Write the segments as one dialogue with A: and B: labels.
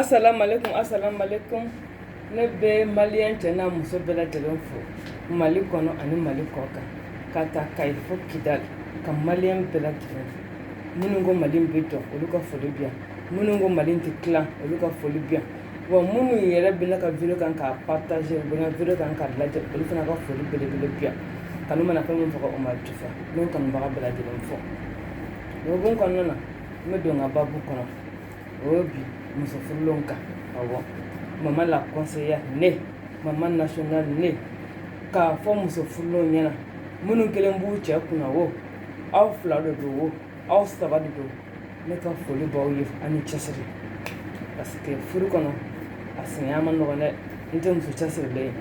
A: Asalamualeykum asalamualeykum ne bɛ maliyɛn cɛ n'a muso bɛɛ lajɛlen fo Mali kɔnɔ ani Mali kɔkan ka ta Kayi fo Kidali ka maliyɛn bɛɛ lajɛlen fo minnu ko Mali in bɛ jɔ olu ka foli bɛ yan minnu ko Mali in tɛ tilan olu ka foli bɛ yan. Wa minnu yɛrɛ bɛ ka vidéo kan ka partager vidéo kan ka lajɛ olu fana ka foli belebele bi ka mana fɛn min faga o ma di n kanubaga bɛɛ lajɛlen fo o kɔnɔna na n bɛ don n ka baabu kɔnɔ o ye bi muso furulen kan maman la conseillère ne maman nationale ne k'a fɔ muso furulen ɲɛna minnu kelen b'u cɛ kun na wo aw fila de don wo aw saba de don ne ka foli b'aw ye ani cɛsiri parce que furu kɔnɔ a sinaya man nɔgɔn dɛ n'i tɛ muso cɛsirilen ye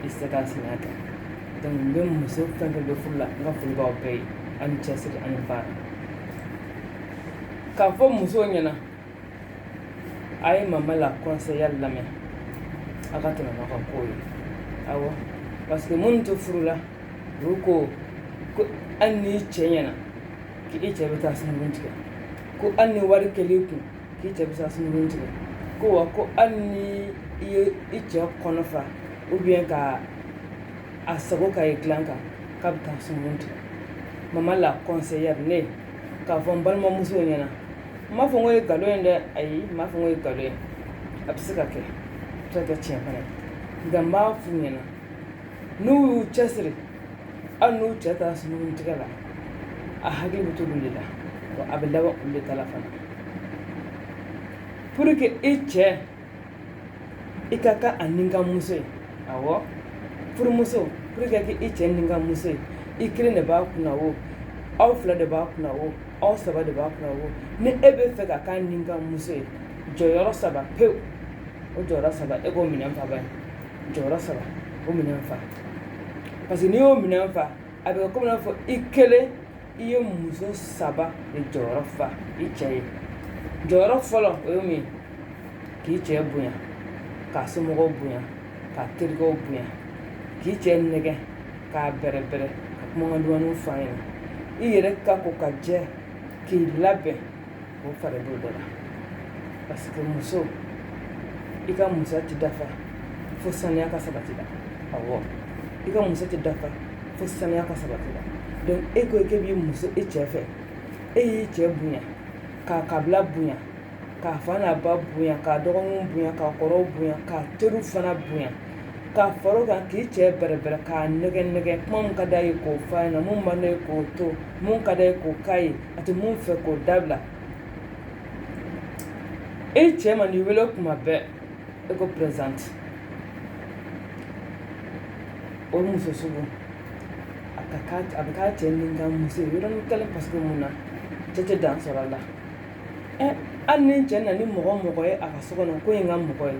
A: i tɛ se ka sinaya kɛ donc n bɛ muso fɛn fɛn bɛ furu la n ka foli b'aw bɛɛ ye ani cɛsiri ani baara k'a fɔ musow ɲɛna a ye maman la conseillère lamɛn a ka tɛmɛ ka ko ye awɔ parce que minnu tɛ furu la olu ko ko hali n'i cɛɲɛna k'i cɛ bɛ taa sungurun tigɛ ko hali ni wari kɛr'i kun k'i cɛ bɛ taa sungurun tigɛ ko wa ko hali ni i ye i cɛ kɔnɔ fa ou bien ka a sago k'a ye dilan kan k'a bɛ taa sungurun tigɛ maman la conseillère ne k'a fɔ n balimamusow ɲɛna n m'a fɔ k'o ye nkalon ye dɛ ayi n m'a fɔ k'o ye nkalon ye a bɛ se ka kɛ se ka kɛ tiɲɛ fana nka n b'a f'u ɲɛna n'u y'u cɛsiri hali n'u cɛ taara sungurun tigɛ la a hakili bɛ to olu de la wa a bɛ laban olu de ta la fana pour que i cɛ i ka kɛ a ni kan muso ye awɔ furumuso pour que i ka kɛ i cɛ ni kan muso ye i kelen de b'a kun na wo aw fila de b'a kun na wo aw saba de b'a kun na wo ni e b'a fɛ ka k'a ni kan muso ye jɔyɔrɔ saba pewu o jɔyɔrɔ saba e k'o minɛn fa a ye jɔyɔrɔ saba o minɛn fa parce que n'i y'o minɛn fa a bɛ komi i n'a fɔ i kelen i ye muso saba de jɔyɔrɔ fa i cɛ ye jɔyɔrɔ fɔlɔ o ye min k'i cɛ bonya k'a somɔgɔw bonya k'a terikɛw bonya k'i cɛ nɛgɛ k'a bɛrɛbɛrɛ ka kumakan dumanw fɔ a ɲɛna i yɛrɛ ka ko ka jɛ k'i labɛn o fana b'o dɔ la parce que muso i ka musoya tɛ dafa fo saniya ka sabati i la awɔ i ka musoya tɛ dafa fo saniya ka sabati i la donc e ko k'e b'i muso e cɛ fɛ e y'i cɛ bonya k'a kabila bonya k'a fa n'a ba bonya k'a dɔgɔninw bonya k'a kɔrɔw bonya k'a teriw fana bonya ka fara o kan k'i cɛ bɛrɛbɛrɛ k'a nɛgɛ nɛgɛ mun ka d'a ye k'o f'a ɲɛna mun man d'a ye k'o to mun ka d'a ye k'o k'a ye a tɛ mun fɛ k'o dabila e cɛ man'i wele kuma bɛɛ e ko présent o muso sugu a a bɛ k'a cɛ min ka muso yɔrɔ ni kɛlen parce que mun na cɛ tɛ dan sɔrɔ a la hali ni cɛ na ni mɔgɔ o mɔgɔ ye a ka so kɔnɔ ko ye ka mɔgɔ ye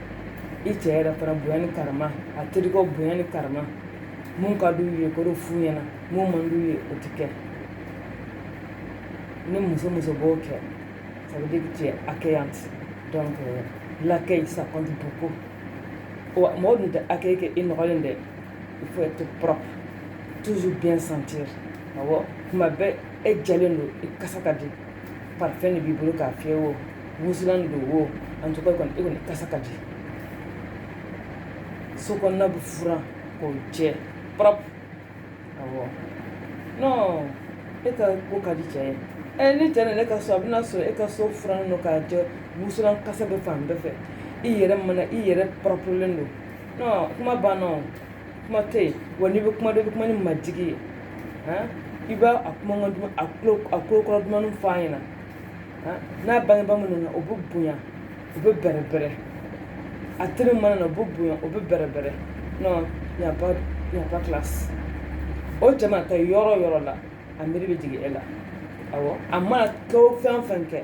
A: i cɛ yɛrɛ fana bonya ni karama a terikɛw bonya ni karama mun ka d'u ye k'o dɔ f'u ɲɛna mun man d'u ye o ti kɛ ni muso o muso b'o kɛ ça veut dire que tu es accueillante donc euh, l'accueil ça compte beaucoup wa mɔgɔ dun tɛ accueil kɛ i nɔgɔlen dɛ il faut être propre toujours bien sentir awɔ kuma bɛɛ e jɛlen don i kasa ka di parfum de b'i bolo k'a fiyɛ wo wusulan de don wo en tout cas kɔni e kɔni kasa ka di so kɔnɔna bɛ furan k'o jɛ propre awɔ non e ka ko ka di cɛ ye ɛ ni cɛ nana e ka so a bɛn'a sɔrɔ e ka so furannen don k'a jɛ wusulan kasa bɛ fan bɛɛ fɛ i yɛrɛ mana i yɛrɛ proprelen don kuma banna kuma tɛ yen wa n'i bɛ kuma don i bɛ kuma ni majigin ye i b'a a kuma a kulo kɔrɔ dumannin fɔ a ɲɛna n'a bangebaga minnu na o bɛ bonya u bɛ bɛrɛbɛrɛ a teri mana na u bɛ bonya o bɛ bɛrɛbɛrɛ non y a pas classe o cɛ mana taa yɔrɔ o yɔrɔ la a miiri bɛ jigin e la a mana kɛ fɛn o fɛn kɛ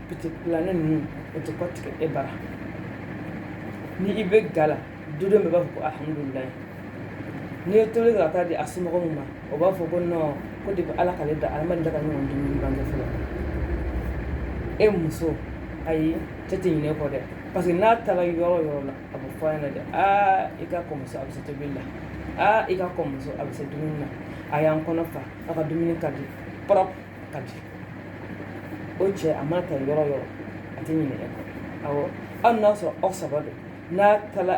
A: Petit plat nin ninnu o tɛ kɔ tigɛ e bara ni i bɛ ga la du bɛɛ b'a fɔ ko alihamudulilayi n'i ye tobili kɛ ka taa di a somɔgɔ min ma o b'a fɔ ko non ko depuis ala k'ale da ala da ka ɲɔgɔn dumuni bange fɔlɔ e muso ayi cɛ tɛ ɲinɛ e kɔ dɛ parce que n'a taara yɔrɔ o yɔrɔ la a bɛ fɔ a ɲɛna dɛ aa i ka kɔmuso a bɛ se tobili la aa i ka kɔmuso a bɛ se dumuni na a y'an kɔnɔ fa a ka dumuni ka di p ka jɛ o cɛ a mana taa yɔrɔ o yɔrɔ a tɛ ɲinɛ e kɔ awɔ hali n'a sɔrɔ aw saba don n'a taara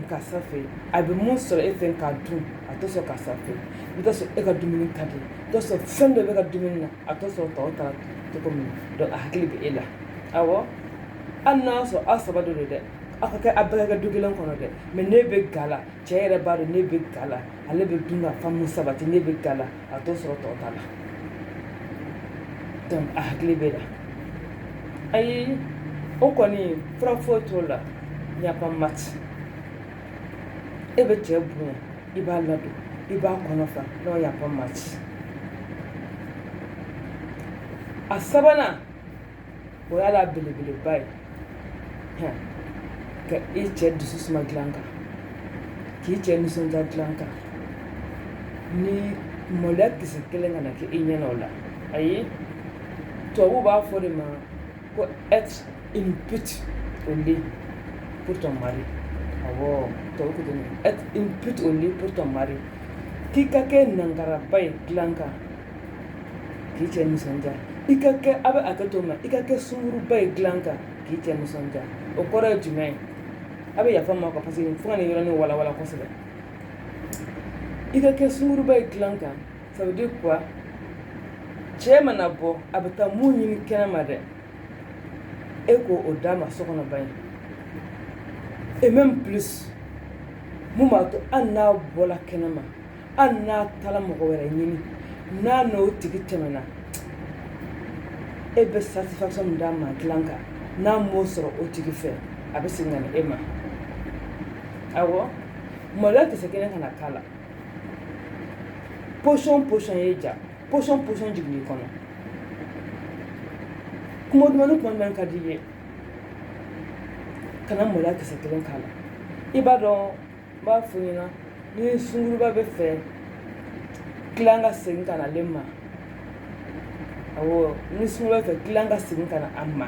A: karisa fɛ yen a bɛ mun sɔrɔ e fɛ k'a dun a tɛ sɔrɔ karisa fɛ yen i t'a sɔrɔ e ka dumuni ka di i t'a sɔrɔ fɛn dɔ b'e ka dumuni na a tɛ sɔrɔ tɔw ta cogo min na a hakili bɛ e la awɔ hali n'a sɔrɔ aw saba de don dɛ aw ka kɛ aw bɛɛ ka du kelen kɔnɔ dɛ mais ne bɛ ga la cɛ yɛrɛ b'a dɔn ne bɛ ga la ale bɛ dun ka fa mun sabati ne bɛ ga la a t'o sɔrɔ tɔw ta la donc a hakili b'e la ayi o kɔni fura foyi t'o la y a pas match e bɛ cɛ bonya i b'a ladon i b'a kɔnɔ fa non y a pas match a sabanan o y'a la belebeleba ye ka i cɛ dusu suma dilan kan k'i cɛ nisɔndiya dilan kan ni maloya kisɛ kelen kana kɛ i ɲɛna o la ayi tubabuw b'a fɔ de ma ko être une pute au lit pour ton mari awɔ tubabu ko ten être une pute au lit pour ton mari k'i ka kɛ nankaraba ye dilan kan K'i cɛ nisɔndiya i ka kɛ a bɛ hakɛ to ma i ka kɛ sunguruba ye dilan kan k'i cɛ nisɔndiya o kɔrɔ ye jumɛn ye a bɛ yafa ma ka parce que fo ka nin yɔrɔnin walawala kosɛbɛ i ka kɛ sunguruba ye dilan kan ça veut dire quoi cɛ mana bɔ a bɛ taa mun ɲini kɛnɛ ma dɛ e ko o d'a ma so kɔnɔ ban ye et même plus min b'a to hali n'a bɔra kɛnɛ ma hali n'a taara mɔgɔ wɛrɛ ɲini n'a n'o tigi tɛmɛna e bɛ satisfaction min d'a ma dilan kan n'a m'o sɔrɔ o tigi fɛ a bɛ segin ka na e ma awɔ maloya kisɛ kelen kana k'a la position position ye ja position position jigin i kɔnɔ kuma duman ni kuma duman ka di i ye kana maloya kisɛ kelen k'a la i b'a dɔn n b'a fɔ ɲɛna ni sunguruba bɛ fɛ client ka segin ka na ale ma awɔ ni sunguruba bɛ fɛ client ka segin ka na a ma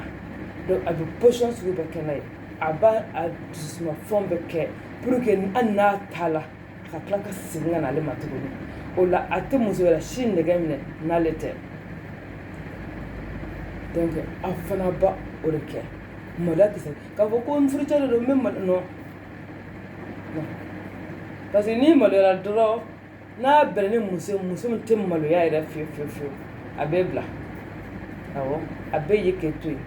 A: donc a bɛ position sugu bɛɛ kɛ n'a ye a b'a a dusuma fɛn bɛɛ kɛ pour que hali n'a taara a ka tila ka segin ka na ale ma tuguni o la a tɛ muso wɛrɛ si nɛgɛ minɛ n'ale tɛ donc a fana b'o de kɛ maloya kisɛ k'a fɔ ko n furucɛ de don n bɛ malo non Parce que n'i maloyara dɔrɔn n'a bɛnna ni muso muso min tɛ maloya yɛrɛ fiyewu fiyewu fiyewu a b'i bila a bɛ ye k'e to yen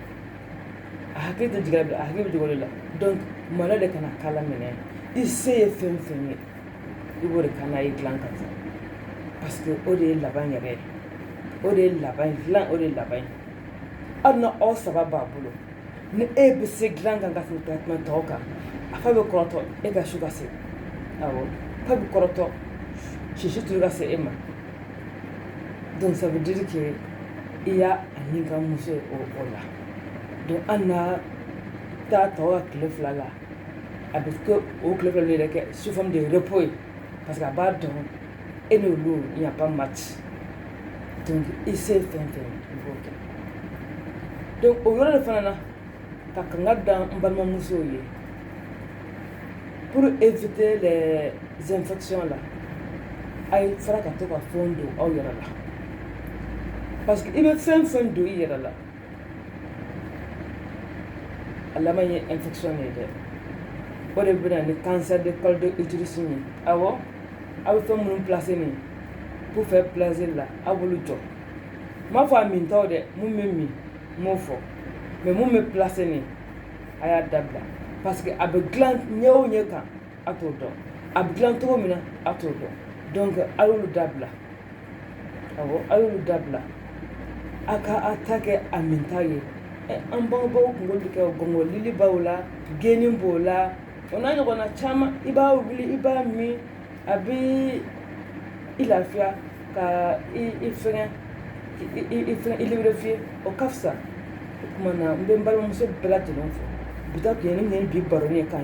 A: a hakili tɛ jigin a hakili jigin o la donc maloya de kana k'a la minɛ i se ye fɛn fɛn ye i b'o de kɛ n'a ye dilan kan fɛ parce que o de ye laban yɛrɛ ye o de ye laban ye dilan o de ye laban ye hali ni aw saba b'a bolo ni e bɛ se dilan kan ka tɛmɛ tɛmɛ tɔw kan a fa bɛ kɔrɔtɔ e ka su ka se awɔ fa bɛ kɔrɔtɔ si si tour ka se e ma donc ça veut dire que i y'a nikanmuso ye o o la donc hali n'a taa tɔw ka tile fila la a bɛ kɛ o tile fila de yɛrɛ kɛ sous forme de repos ye parce que a b'a dɔn e ni olu il n'y a pas match donc i se ye fɛn fɛn i b'o kɛ donc o yɔrɔ de fana na ka kankari da n balimamusow ye pour éviter les infections là a ye fara ka to ka fɛnw don aw yɛrɛ la parce que i bɛ fɛn fɛn don i yɛrɛ la A laban ye infection de ye dɛ o de bɛ na ni cancer de col de l'utérus ye awɔ aw bɛ fɛn minnu placer nin pour faire plaisir là aw b'olu jɔ n m'a fɔ a min taw dɛ minnu bɛ min n m'o fɔ mais minnu bɛ placer nin a y'a dabila parce que a bɛ dilan ɲɛ o ɲɛ kan a t'o dɔn a bɛ dilan cogo min na a t'o dɔn donc a y'olu dabila awɔ a y'olu dabila a ka a ta kɛ a min ta ye an bangebaaw tun b'olu kɛ gɔngɔlili b'o la geni b'o la o n'a ɲɔgɔnna caman i b'a wuli i b'a min a bɛ i lafiya ka i fɛngɛ i fɛngɛ i lubrifier o ka fisa o tuma na n bɛ n balimamuso bɛɛ lajɛlen fo bi ta tun ye ne ni bi baro ye kan